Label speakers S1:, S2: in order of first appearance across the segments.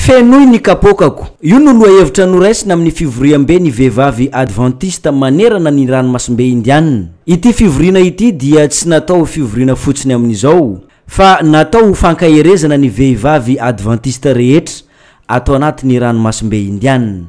S1: Fenoy ny kapoakako. Io no lohahevitra noraisina amin'ny fivoriambe ny vehivavy Advantista manerana ny Ranomasimbe Indianina. Ity fivoriana ity dia tsy natao ho fivoriana fotsiny amin'izao, fa natao ho fankaherezana ny vehivavy Advantista rehetra ato anatin'ny Ranomasimbe Indianina.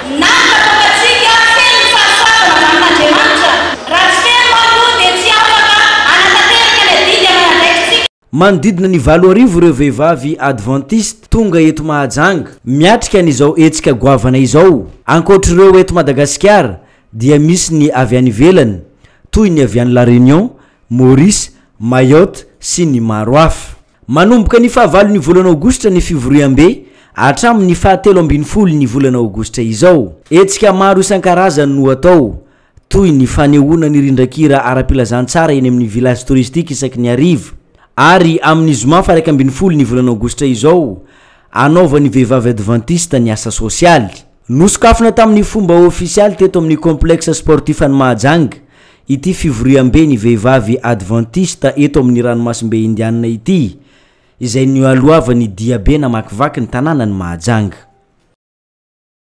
S1: Na dia fantatsika feno ny fahasoavana avy amin'Andriamanitra, raha tsy feno manko dia tsy afaka hanatanteraka ny adidy aman'andraikitsika. Manodidina ny valo arivo ireo vehivavy Adventiste tonga eto Mahajanga miatrika an'izao hetsika goavana izao. Ankoatr'ireo eto Madagasikara dia misy ny avy any ivelany toy ny avy any La Réunion, Maurice, Mayotte sy ny maro hafa. Manomboka ny fahavalon'ny volana Aogositra ny fivoriambe hatramin'ny fahatelo ambin'ny folon'ny volana Aogositra izao. Hetsika maro isan-karazany no atao, toy ny fanehoana ny rindran-kira ara-pilazantsara eny amin'ny Village Touristique isaky ny hariva, ary amin'ny zoma faha-iraika ambin'ny folon'ny volana Aogositra izao, hanaovan'ny vehivavy advantista ny asa sosialy. Nosokafina tamin'ny fomba ofisialy teto amin'ny Complexe Sportif an'i Mahajanga ity fivoriambe ny vehivavy Adventista eto amin'ny ranomasimbe Indianina ity, izay nioalohavan'ny diabe namakivaky ny tanànan'i Mahajanga.